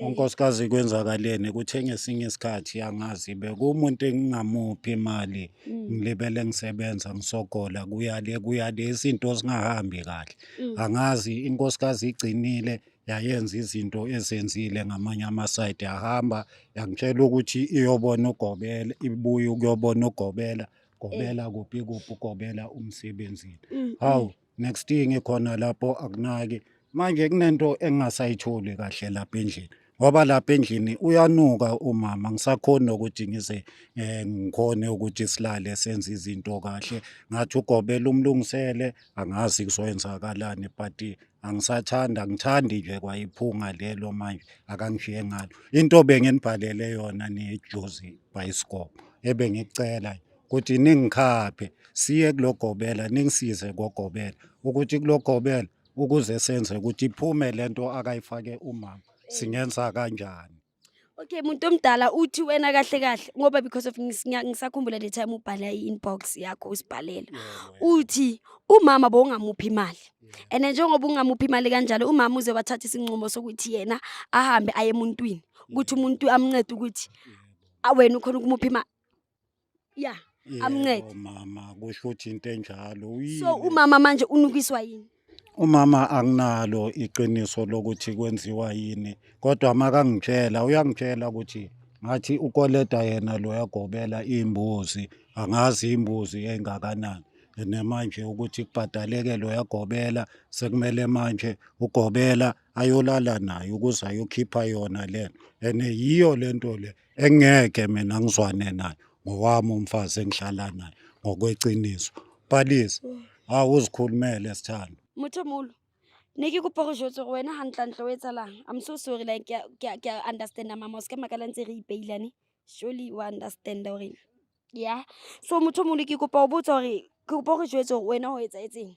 unkosikazi kwenzakaleni kuthe ngesinye isikhathi angazi bekuwumuntu engingamuphi imali ngilibele ngisebenza ngisogola kuyale kuyale izinto zingahambi kahle angazi inkosikazi igcinile yayenza izinto ezenzile ngamanye amasayidi yahamba yangitshela ukuthi iyobona ugobela ibuye ukuyobona ugobela gobela kuphi kuphi ugobela umsebenzini hawu next year ngikhona lapho akunaki manje kunento engingasayitholi kahle lapha endlini ngoba lapha endlini uyanuka umama ngisakhoni nokuthi ngize eh, ngikhone ukuthi silale senze izinto kahle ngathi ugobela umlungisele angazi kuzoyenzakalani but angisathanda ngithandi nje kwayiphunga lelo manje akangishiye ngalo into benginibhalele yona nejuzi bhayisikobho ebengicela ukuthi ningikhaphe siye kulogobela ningisize kogobela ukuthi kulogobela ukuze senze ukuthi iphume lento akayifake umama singenza kanjani Okay muntu omdala uthi wena kahle kahle ngoba because of ngis- ngiya- ngisakhumbula le time ubhala i-inbox yakho usibhalela uthi umama bowungamuphi imali and njengoba ungamuphi imali kanjalo umama uze wathatha isinqumo sokuthi yena ahambe aye emuntwini ukuthi umuntu amncede ukuthi ah, wena ukhona ukumupha imali ya amncede mama kusho ukuthi into enjalo so umama manje unukiswa yini umama anginalo iqiniso lokuthi kwenziwa yini kodwa makangitshela uyangitshela ukuthi ngathi ukoleta yena lo yagobela imbuzi angazi imbuzi engakanani namanje ukuthi kubhadaleke lo yagobela sekumele manje ugobela ayolala nayo ukuze ayokhipha yona lena and yiyo lento le engeke mina ngizwane naye ngowami umfazi engihlala naye ngokweqiniso palisa ha uzikhulumele sithando motho molo ne ke kopa go jotse go wena gantlantle o etsalang i'm so sorry like ke a- ke a- ke a understanda mama o se ka makala ntse re ipeilane surely wa understanda gore ya so motho molo ke kopa go botsa gore ke kopa go jetse gore wena o etsa etseng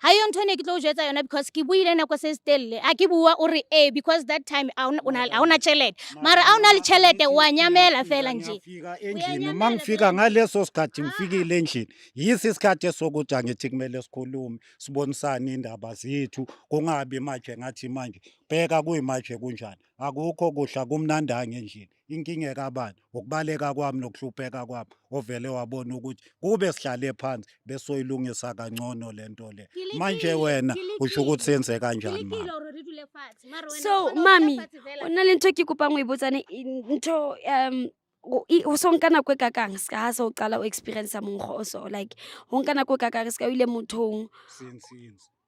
ha yo ntho ne ke tlo o jwetsa yona because ke buile nako se se telele a ke bua o re ee because that time a ona- o na- a ona tšhelete mara a o na le tšhelete o a nyamela fela nje Ngiyafika endlini Uyanyamela uma ngifika vele. ngaleso sikhathi ngifikile endlini yisi isikhathi esokuthi angithi kumele sikhulume sibonisane indaba zethu kungabi manje ngathi manje bheka kuyimanje kunjani akukho kudla kumnandanga endlini inkinga ekabani ukubaleka kwami nokuhlupeka kwami ovele wabona ukuthi kube sihlale phansi besoyilungisa kangcono le nto le manje wena usho ukuthi senze kanjani mama so mami o na le ntho ke kopang o e botsane ntho um o i- o so nka nako e kakang se ka ha se o qala o experience monggo o so like ho nka nako e kakang se ka o ile mothong since since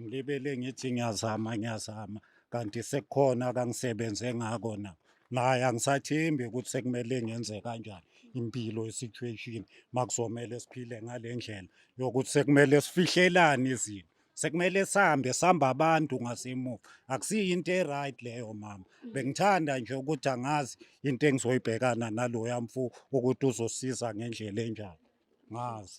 Ngilibele ngithi ngiyazama ngiyazama kanti sekukhona kangisebenze ngako na naye angisathembi ukuthi sekumele ngenze kanjani impilo isituation makuzomele siphile ngale ndlela yokuthi sekumele sifihlelane izinto sekumele sihambe sihamba abantu ngasemuva akusiyo into e-right leyo mama bengithanda nje ukuthi angazi into engizoyibhekana naloya mfu ukuthi uzosiza ngendlela enjani ngazi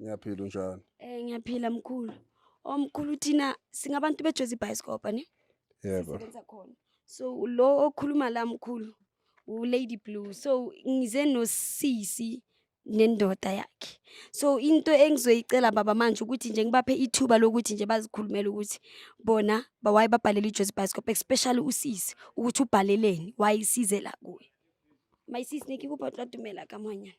Ngiyaphila unjani? Eh ngiyaphila mkhulu. Omkhulu thina singabantu bejozi bhayisikobha ne? Yebo. Sisebenza khona. So lo okhuluma la mkhulu u Lady Blue. So ngize no sisi nendoda yakhe. So into engizoyicela baba manje ukuthi nje ngibaphe ithuba lokuthi nje bazikhulumele ukuthi bona bawaye babhalele iJozi Bioscope especially usisi ukuthi ubhaleleni wayisize la kuye. My sis nikikupha tla dumela ka mwanyana.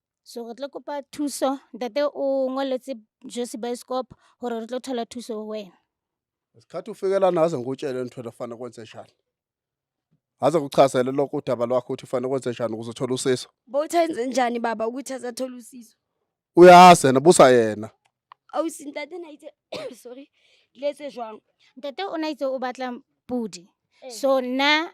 So re tlo kopa thuso ntate o ngoletse Josi Bioscope hore re tlo thola thuso ho wena. Isikhathi ufikela naze ngikutshele into efanele kwenze njani. Aze kuchazele lokho udaba lwakho ukuthi ufanele kwenze njani ukuze uthole usizo. Bowuthenze njani baba ukuthi azathola usizo? Uyazi yena busa yena. Ausi ntate na itse sorry letse jwang? Ntate o na itse o batla pudi. Eh. So nna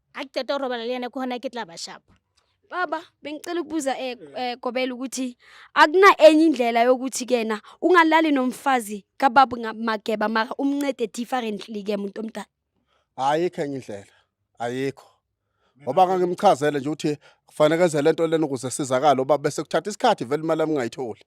akuqeda urobala liyana kuhona ke tla bashapha baba bengicela ukubuza eh, eh Gobela ukuthi akuna enye indlela yokuthi kena ungalali nomfazi kababa ngamageba mara umncede differently ke umuntu omdala ayikho enye indlela ayikho ngoba ngangimchazele nje ukuthi kufanele enze lento lena ukuze sizakale uba bese kuthatha isikhathi vele imali yami ngayitholi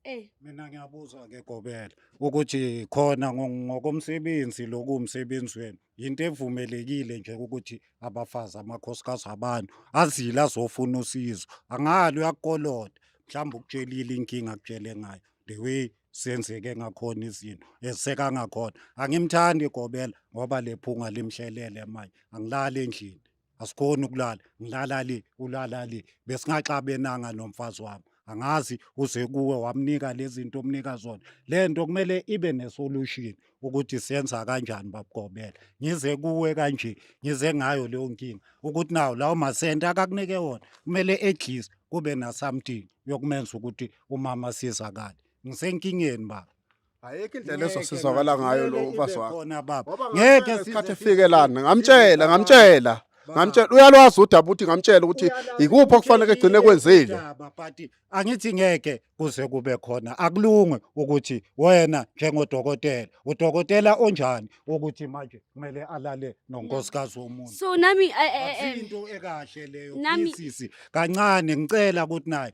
Ey. Mina ngiyabuza ke Gobela ukuthi khona ngo- ngokomsebenzi lokuwumsebenzi wenu yinto evumelekile nje ukuthi abafazi amakhosikazi abantu azile azofuna usizo angali uyakukolota mhlawumbe ukutshelile inkinga akutshele ngayo the way senzeke ngakhona izinto eziseka ngakhona angimthandi Gobela ngoba lephunga limhlelele manje angilali endlini asikhoni ukulala ngilala le ulala le besingaxabenanga nomfazi wami angazi uze kuwe wamnika lezinto omnika zona lento kumele ibe nesolution ukuthi senza kanjani babugobela ngize kuwe kanje ngize ngayo leyo nkinga ukuthi nawo lawo masente akakunike wona kumele edlise kube na something yokumenza ukuthi umama sizakale ngisenkingeni baba ayikho indlela ezosizakala ngayo lo ufazi wakho khona baba ngeke isikhathi efike lana ngamtshela ngamtshela ngamtshela uyalwazi udaba ukuthi ngamtshela ukuthi yikuphi okufanele egcine kwenzile but angithi ngeke kuze kube khona akulunge ukuthi wena njengodokotela udokotela onjani ukuthi manje kumele alale nonkosikazi womuntu so nami eh, eh, eh, into ekahle leyo nami sisi kancane ngicela ukuthi naye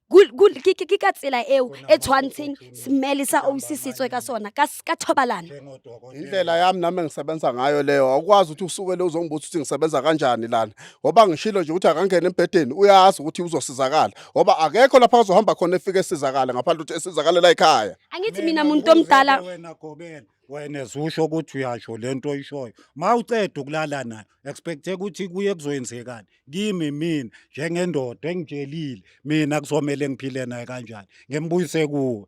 Kul- kul- ke ke- ke ka tsela eo e tshwantsheng smele sa ausi se tswe ka sona ka s- ka thobalano indlela yami nami engisebenza ngayo leyo awukwazi ukuthi usukele uzongibuza ukuthi ngisebenza kanjani lana ngoba ngishilo nje ukuthi akangene embhedeni uyazi ukuthi uzosizakala ngoba akekho lapha azohamba khona efike esizakale ngaphandle ukuthi esizakalela ekhaya angithi mina muntu omdala wena gobela wena zusho ukuthi uyasho lento oyishoyo mawuceda ukulala nayo expecte ukuthi kuye kuzoyenzekani kimi mina njengendoda engitshelile mina kuzomele ngiphile naye kanjani ngembuyise kuwe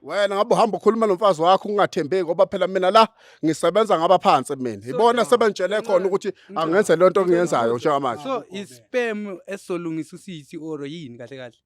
wena ngabe uhamba ukhuluma nomfazi wakho ungathembeki ngoba phela mina la ngisebenza ngaba phansi mina ibona sebengitshele khona ukuthi angenze lento engiyenzayo njengamanje so isperm esolungisa usisi or yini kahle kahle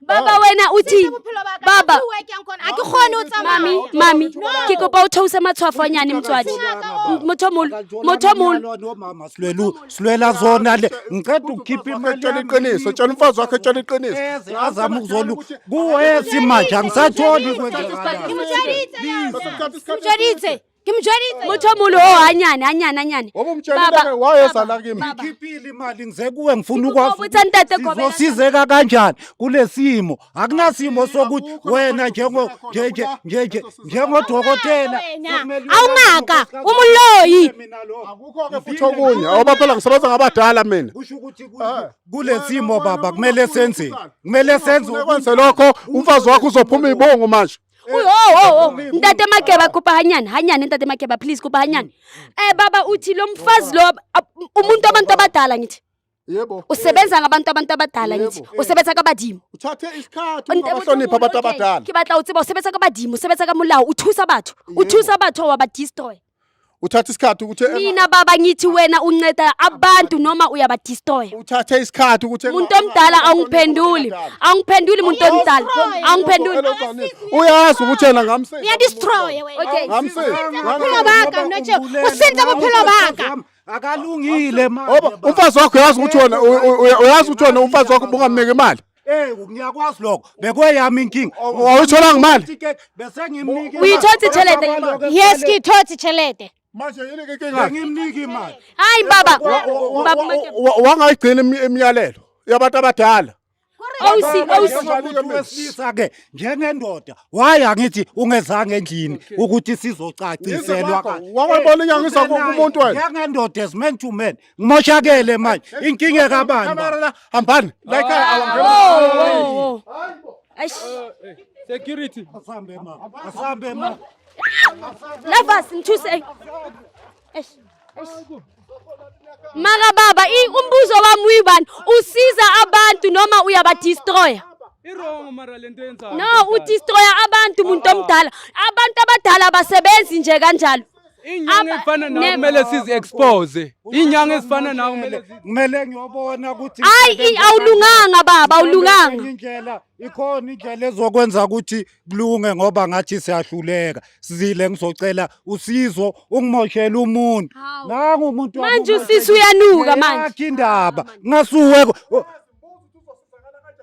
baba wena o thi baba mami mami ke kopa o theose matshwafo a nyane motswadi motho molo motho molo silwela zona le ngiceda ukukhipha imali tshela iqiniso tshela umfazi wakhe tshela iqiniso azama ukuzolu kuwesi manje angisatholi kwenzekala ngimjwayelise muthi omulo o anyane anyane anyane Baba, wayezala kimi baba. ngikhiphile imali ngize kuwe ngifuna Ngikubopha ukwazi uthani tate Gobela? sizosizeka kanjani kulesimo akunasimo sokuthi wena njengo nje nje nje nje njengodokotela Wena, sekumele awungaka uhambe umuloyi mina lo akukho-ke futhi okunye oba phela ngisebenza ngabadala mina kusho ukuthi ku- Eh. kulesimo baba kumele senzeni kumele senze ukwenze lokho umfazi wakho uzophuma ibungu manje Uy, oh, oh, oh. Ntate Makeba kopa hanyane, hanyane Ntate Makeba please kopa hanyane. Eh baba uthi lo mfazi lo ab- umuntu abantu abadala ngithi. Yebo. Usebenza ngabantu abantu abadala ngithi. Yebo. Usebenza kabadimo. Uthathe isikhathi Ntate- ungabahloniphi abantu Okay, abadala. Ke batla o tseba usebenza kabadimo, usebenza ka molao, uthusa batho. Yebo. Uthusa batho wa ba destroy. uthatha isikhathi ukuthi enga- mina baba ngithi wena unceda abantu noma uyabadistoya uthathe isikhathi ukuthi enga- muntu omdala awungiphenduli awungiphenduli muntu omdala awungiphenduli Hello, Zane. uyazi ukuthi yena ngamsiza uyadistroye wena Okay. ngamsiza bophelo baka mna nje usinta bophelo baka akalungile manje Oba, umfazi wakho uyazi ukuthi wena u- u- uyazi ukuthi wena umfazi wakho bungamniki imali Eh ngiyakwazi lokho bekweyami inkinga wawuthola ngemali ticket bese ngimnike Uyithothi tshelede imali. Yes ngithothi tshelede. manje yini ke inkinga ngimnike imali Hayi baba. Baba Make- wangayigcina imi- imiyalelo yabantu abadala OC OC. umuntu wesilisa ke njengendoda waye angithi ungezanga endlini ukuthi sizocaciselwa Ngizwe kwakho. Wawabona inyanga iza kumuntu wena? njengendoda as man to man Ngimoshakele manje. Inkinga kabani? Camera hambani. Like awangena. Eish. Security. Asambe ma. Asambe ma. Navas ngithuse. Eish. Eish. Maka baba, umbuzo wami uyibani? Usiza abantu noma uyabadestroya? Irongo mara lento yenzayo. No, udestroya abantu umuntu omdala. Abantu abadala abasebenzi nje kanjalo. Inyanga efana nawe kumele sizi expose. Inyanga ezifana nawe kumele kumele ngiyobona ukuthi Hayi awulunganga baba awulunganga. Indlela ikhona indlela ezokwenza ukuthi kulunge ngoba ngathi siyahluleka. Sizile ngizocela usizo ungimoshela umuntu. Nangu umuntu Manje usisi uyanuka manje. Yakhe indaba. Ngasuwe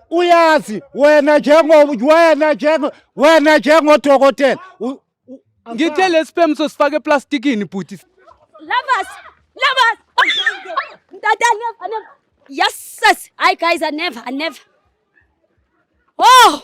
uyazi wena njengo wena njengo wena njengodokotela Ngithe lesperm sosifaka eplastikini bhuti. Lovers, lovers. Tata never, never. Yes, sis. Hi guys, I never, I never. Oh!